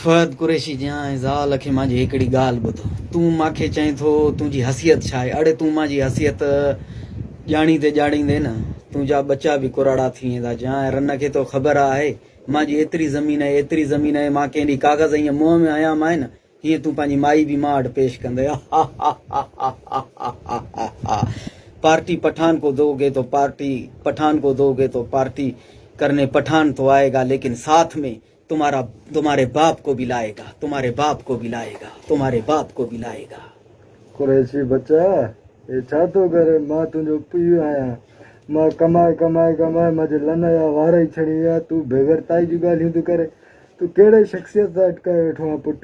فهد قريشي جيان ۽ زال کي مانجي هڪڙي ڳالهه ٻڌ تون مانکي چئين ٿو تنهنجي حسيت ڇا آهي اڙي تون مانجي حسيت ڄاڻيندي ڄاڻيندي نه تنهنجا ٻچا به ڪراڙا ٿي ويندا جيان ۽ رن کي تو خبر آهي مانجي ايتري زمين آهي ايتري زمين آهي مان ڪنهن ڏي ڪاغذ ائين منهن ۾ هنيا مانء نه هيئن تون پنهنجي مائي به مان اڏ پيش ڪندي پارٽي پٺان کو دو گي تو پارٽي پٺان کو دو گي تو پارٽي ڪرني پٺان تو آئي گا ليڪن ساٿ ۾ تمهارا تمهاري باپ ڪو ڀي لائي گا تمهاري باپ ڪو ڀي لائي گا تمهاري باپ ڪو ڀي لائي گا. قريشي ٻچا! هي ڇا ٿو ڪرين؟ مان تنهنجو پيء آهيان. مان ڪمائي ڪمائي ڪمائي منهنجي لنئن جا وار ئي ڇڻي ويا. تون بيغيرتائي جون ڳالهيون ٿو ڪرين. تون ڪهڙي شخصيت سان اٽڪايو ويٺو آهين پٽ؟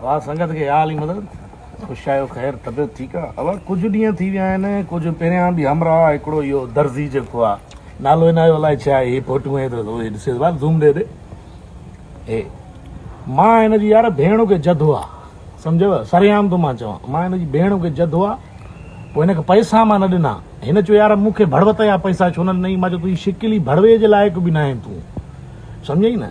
اوهان سنگت کي اها علي مدد. خوش آهيو خير طبيعت ٺيڪ آ. اوهان ڪجهه ڏينهن ٿي ويا آهن ڪجهه پهريان به همراهه هڪڙو اهو درزي جيڪو آ نالو هن جو الائي ڇا هي فوٽون هي ته اهي ڏسيس بار زوم ڏي ڏي هي مان هن جي يار ڀيڻ کي جد هو آ سمجهيو سريام ٿو مان چوان مان هن جي ڀيڻ کي جد هو آ پوء هن کي پئسا مان نه ڏنا هن چيو يار مون کي ڀڙوت جا پئسا ڇو نه ڏنئي مان چيو تنهنجي شڪل ئي ڀڙوي جي لائق به نه آهين تون سمجهئي نه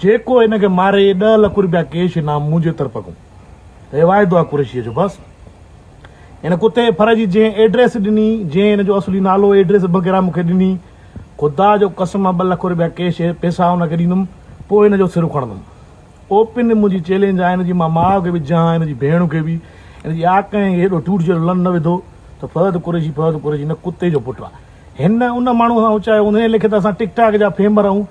جيڪو هن کي ماري ڏهه لک روپيا ڪيش انعام منهنجي طرف ڪون هي واعدو آ قريشيء جو بس هن ڪتي ڦر جي جنهن ايڊريس ڏني جنهن هن جو اصلي نالو ايڊريس بغيره مون کي ڏني خدا جو قسم آ ٻه لک روپيا ڪيش پيسا هن کي ڏيندم پوء هن جو سر اکڙندم اوپن منهنجي چيلينج آ هن جي مان ماء کي به جهان هن جي ڀيڻ کي به هن جي آ ڪنهن کي هيڏو ٽوٽ جهڙو لن نه وڌو ته فهد قريشي فهد قريشي هن ڪتي جو پٽ آ هن ان ماڻهو سان اچايو هوندو ان ليکي ته اسان ٽڪ ٽاڪ جا فيمر آهيون